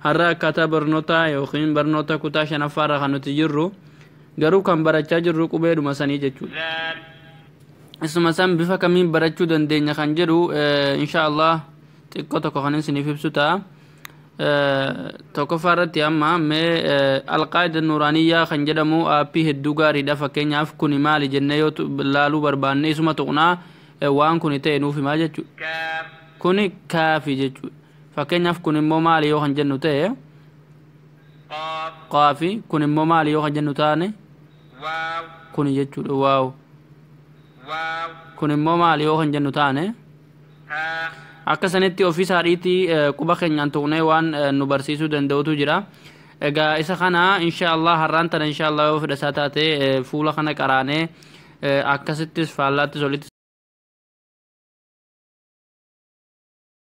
Har'a akkaataa barnootaa ykn barnoota kutaa 5ffaa irra kan nuti jirru garuu kan barachaa jirru qubeedhuma sanii jechuudha. Isuma san bifa kamiin barachuu dandeenya kan jedhu insha Allah xiqqoo tokko kan isiniif ibsu ta'a. Tokkoffaa irratti amma mee alqaayida nuuraaniyyaa kan jedhamu aappii hedduu gaariidha fakkeenyaaf kuni maali jennee yoo laaluu barbaanne isuma tuqnaa waan kuni ta'e nuuf himaa jechuudha. Kuni kaafi jechuudha. Fakkeenyaaf kun immoo maali yoo kan jennu ta'e qaafi kun immoo maali yoo kan jennu taane kuni jechuudha waaw kun immoo maali yoo kan jennu taane akka sanitti ofii isaadhiitti quba keenyaan tuqnee waan nu barsiisuu danda'utu jira egaa isa kana inshaallah har'aan tana inshaallah yoo fedha isaa taate fuula kana qaraanee akkasittis faallaattis olitti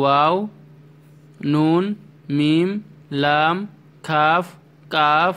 waaw nuun miim laam kaaf qaaf.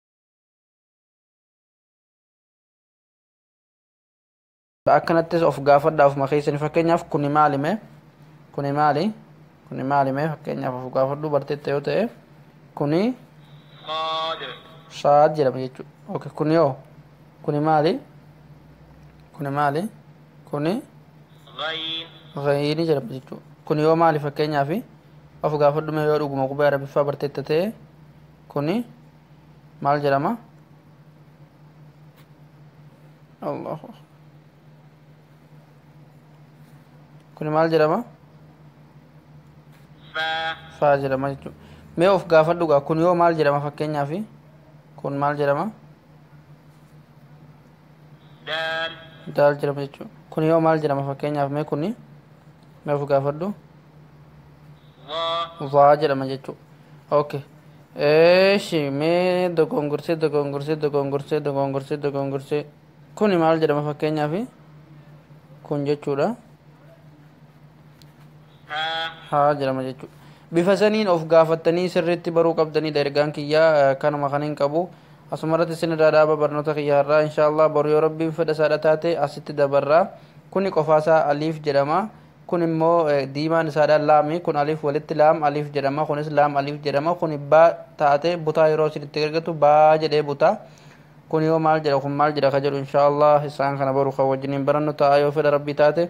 akkanattis of gaafadhaa ofuma keessani fakkeenyaaf kuni maali mee kuni maali kuni maali mee fakkeenyaaf of gaafadhuu barteetta yoo ta'e kuni saad jedhama jechuudha okay kuni hoo kuni maali kuni maali kuni ghayiini jedhama jechuudha kuni yoo maali fakkeenyaaf of gaafadhu mee yoo dhuguma qubee arabiffaa barteetta ta'e kuni maal jedhama allahu akbar kuni maal jedhama فا faa jedhama jechuudha mee of gaafadhu gaa kun yoo maal jedhama fakkeenyaaf kun maal jedhama دال daal jedhama jechuudha kun yoo maal jedhama fakkeenyaaf mee kuni mee of gaafadhu ظا waa jedhama jechuudha okay eeshi mee dogongorsee dogongorsee dogongorsee dogongorsee dogongorsee kuni maal jedhama fakkeenyaaf kun jechuudha ها haa jedhama jechuudha bifa saniin of gaafattanii sirriitti baruu qabdanidha ergaan kiyyaa eh, kanuma kan hin qabu Asumarratti isin irraa dhaaba barnoota kiyya har'aa inshaa allaah boru yoo rabbiin fedha isaadha taate asitti dabarra. Kuni qofaa isaa aliif jedhama. Kun immoo diimaan isaadha laami. Kun aliif walitti laam aliif jedhama. Kunis laam aliif jedhama. Kuni baa taate butaa yeroo isin itti gargatu baa jedhee buta. Kun yoo maal jedha kun maal jedha ka jedhu inshaa allaah isaan kana boru kan wajjiniin barannu ta'a yoo fedha rabbii taate.